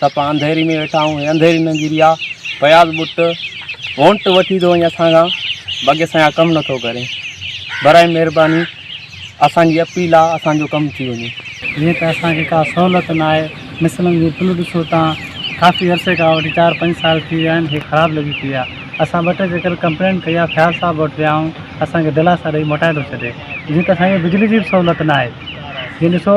سڀ انڌيري ۾ ويٺا آهيون انڌيري نه گري آ فياض بٽ وونٽ وٺي ٿو وڃي اسان کان باقي اسان کان ڪم نٿو ڪري برائي مهرباني اسانجي اپيل آ اسانجو ڪم ٿي وڃي جيئن ته اسانکي ڪا سهولت نه آهي مثلاً جي پل ڏسو تان ڪافي عرصي کان وٺي چار پنج سال ٿي ويا آهن هي خراب لڳي پئي آ اسان ٻه ٽي چڪر ڪمپلين ڪئي آ فياض صاحب وٽ ويا آهيون اسانکي دلاسا ڏئي موٽائي ٿو ڇڏي جيئن ته اسانکي بجلي جي به سهولت نه آهي جي ڏسو